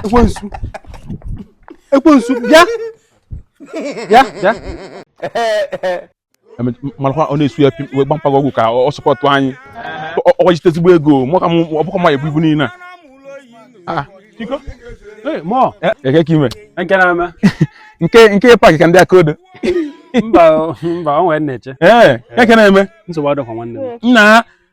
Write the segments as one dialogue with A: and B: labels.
A: ekwensu ekwensu bịa bịa bịa marakwa ọ na-esu ya wee gba mpaghara ọgwụ ka ọ sọpọtụ anyị ọ jite ezigbo ego mụ ka ọ bụkwa ma ebu ibu niile a
B: ah, eh,
A: eke ka
B: ime nke nke
A: paakị ka ndị aka odo mba
B: mba ọ nwere nne eche ee eh, eh. eke na-eme
A: nsogbu adịrọkwa nwanne m
B: nna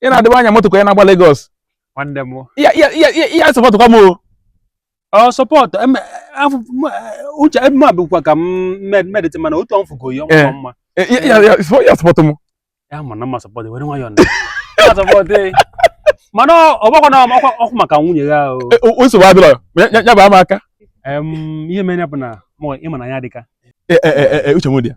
A: ị na-adịwa anya moto ka onye na-agba Lagos nwanne
B: m ya ya ya ya ya
A: sọpọtụkwa m o
B: ọ sọpọtụ eme afụ m- eh, uche ebe m bụkwa ka m med- medịtị mana otu ọmfụ ka oyi Eh. ọmụkwa mma Eh, ya ya ya sọ- ya
A: sọpọtụ m ya ma na mma
B: sọpọtụ were nwayọọ na Ya sọpọtụ eh. mana ọ- ọ gbakwa na ọkwa ọkwa maka nwunye ya o Eh, o- o nsogbu adịrọ
A: ya ya- ya baa m aka Em, ihe
B: mere ya bụ na mụ ị ma na ya dịka Eh, eh, eh, eh, uche
A: m dị ya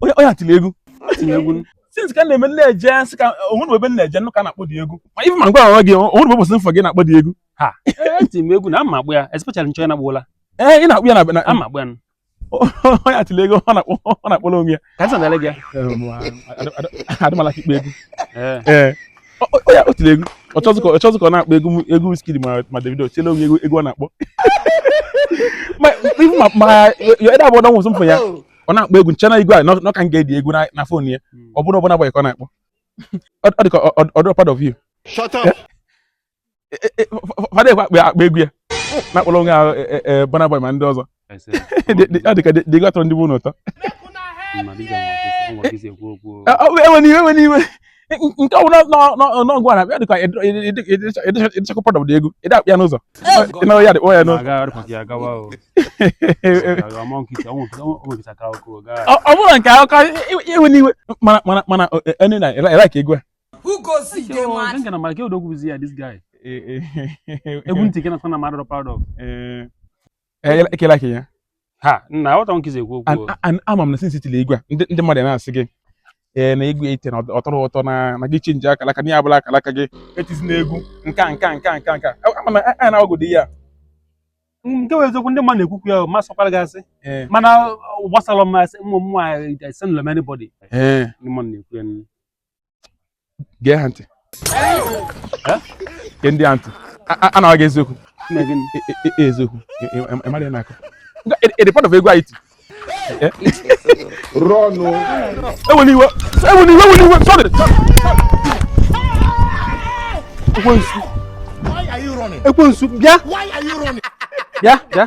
A: onye onye atili egwu atili egwu since ka na-eme m na-eje sị ka o nwere ebe m na-eje ka na-akpọ dị egwu ma ife ma ngwa onwe gị o nwere ụbọchị m fụ gị na-akpọ dị egwu ha eti m
B: egwu na ama akpọ ya especially nchọ na gboola ee ị na-akpọ ya na
A: ama akpọ ya
B: onye
A: atili egwu ọ na-akpọrọ onwe ya ka nsọ na-ele gị ya adịmala ka ikpe egwu ee onye atili egwu ọ chọzi ka ọ na-akpọ egwu egwu Wizkid ma Davido tili onwe egwu egwu ọ na-akpọ ma ịdị abụọ na nwụsụ mfọ ya ọ na-akpọ egwu m che na egwu a nọ ka m ga-edi egwu na fon ya ọ bụrụ Burna Boy ka ọ na-akpọ ọ dị ka ọ dịrọ proud of you shut up fada ekwe akpọ egwu ya na-akpọrọ onwe ahụ Burna Boy ma ndị ọzọ ọ dị ka dị egwu atọrọ ndị be unu ụtọ ewena iwe ewena iwe nke ọbụla n'egwu a na-abịa dịka ị dịchakwa proud of dị egwu ị dị akpọ ya n'ụzọ ịnara ya dị kpọ ya n'ụzọ ọ bụrụ nke akụkọ ewena iwe mana mana enu na ịlaik egwu
B: a egwu ntị gị na-akọ na mmadụ proud of
A: Eh, ekela ka ya ha nna
B: aghọta nkizi ekwu okwu ama m na since i
A: tiri egwu a ndị mmadụ na-asị gị ee na egwu i ti na ọ tọrọ ụtọ na na gị chenji akala aka na ya abụla akala aka gị etizina egwu nka nka nka nka nka ama na a na-agwagodi ya
B: nke bụ eziokwu ndị mmadụ na-ekwukwu ya ma kpọkwara gị asị mana gbasara m asị ụmụ m nwaanyị esendịrọ m anybody ndị mmadụ na-ekwu ya
A: gee ha ntị gee ndị a ntị a na-agwa gị eziokwu eziokwu ị mara ya n'aka ị dị proud of egwu anyị tiri ọnụ ewela iwe ewela iwe ewela iwe sorry ekwensu ekwensu bịa bịa bịa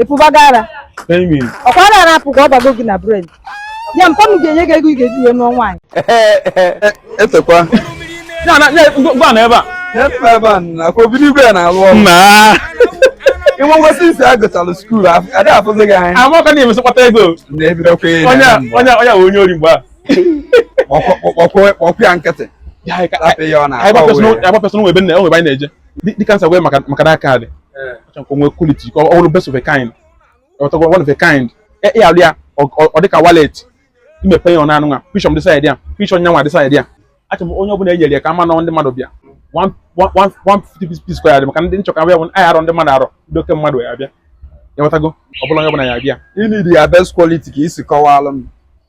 C: ị pụbago ara ọkwa ara na-apụ ka ọ bago gị na brain ya mpa m ga-enye gị ego ị ga-eji wee nụọ
A: nwaanyị etekwa gwa na ebe a efe ebe a na
D: akwa obido igwe ya na-alụ ọrụ na inwe ngwasị since a gụchalụ skuul a da afụzi gị anya a maka na i mesị kpata
A: ego na-ebidokwa ya onye
D: a- onye a- onye a
A: wụ onye ori mgbe a kpọkwa ya
D: nkịtị Ka- ka- rapụ ya ọ ka- na-akpa ka- uwe ya.
A: agbapesịrị nwa ebe nna ya, o nwe ebe anyị na-eje dịka nsa wee maka maka that card achọrọ ka o nwee quality ka ọ bụrụ best of a kind ọtọkwa one of a kind ya ya a lụ ya ọ- ọ dịka wallet i mepe ya ọ na-anụ nwa picture m dị side a picture nyanwa dị side a achọrọ m onye ọbụla e nyere ya ka a ma na ndị mmadụ bịa One- one- one- 150 piece piece kwa ya dị maka ndị m chọ ka bịa bụ anyị arọ ndị mmadụ arọ ndị oke mmadụ ya-abịa ị ghọtago ọ bụrọ onye ọbụla ya-abịa ị need ya best
D: quality ka i si kọwalụ m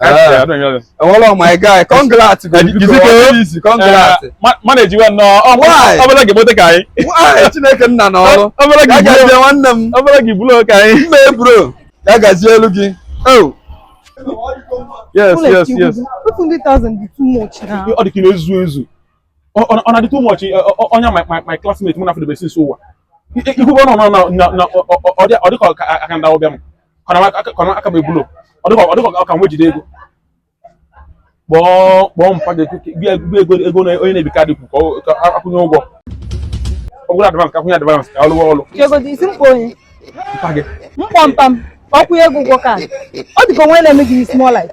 A: Eh, enwere my
D: guy congrats eh, mana
A: ejiwe nnọọ ọbụla gị
D: mote ka anyị
A: nwaanyị chineke nna
D: na ọrụ ọbụla gị gazie nwanne
A: m ọbụla
D: gị bụrụ ka anyị
A: my
D: bro ya gazielu gị oh.
C: yes yes yes ọ dị ka na-ezu
A: ezu ọ na-adị too much eh, onye my classmate mụ na fa dịbe since ụwa i kwube ọnụ na ọ dị ka aka ndị ụbịam kọrọ aka m ebulo ọ dị ka ọ ka nwejide ego kpọọ kpọọ mpa gị ego onye na-ebi kaadị kwu ka a kwụnye ụgwọ ọ bụrụ advance ka a kwụnye advance ka ọ lụwa
C: ọlụ ego dị ị sị m kpọọ onye mpa
A: gị m kpọọ mpa m
C: ọ kwụnye ego ụgwọ kaadị ọ dịka o nwe na-eme gị small life